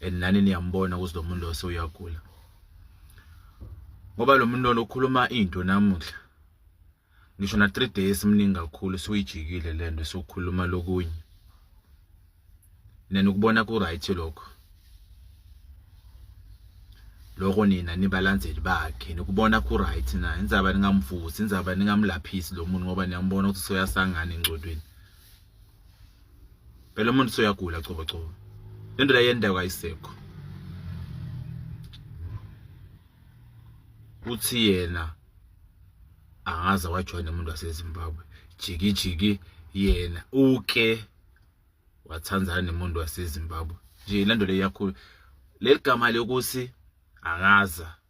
and nani niyambona ukuthi lo muntu lose uyagula ngoba lo muntu lona ukhuluma into namuhla ngisho na 3 days mningi kakhulu suyijikile lento sokukhuluma lokunye nene ukubona ku right lokho lokho nina nibalandzeli bakhe nikubona ku right na indzaba ningamvusi indzaba ningamlaphisi lo muntu ngoba niyambona ukuthi soyasangana encodweni phela umuntu soyagula cobo cobo lento la yendawo kayisekho uthi yena angaze wajoyina umuntu waseZimbabwe jiki jiki yena uke wathandana nemuntu waseZimbabwe nje lento le yakhulu leligama lokuthi angaza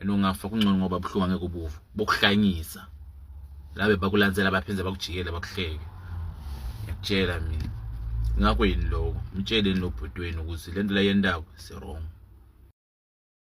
and ungafa kungcono ngoba buhlungu angeke ubuvu bokuhlanyisa labe bakulansela baphinde bakujikele bakuhleke ngiyakutshela mina ngakho yini lokho mtsheleni lobhuti wenu ukuthi lento la yendaba si wrong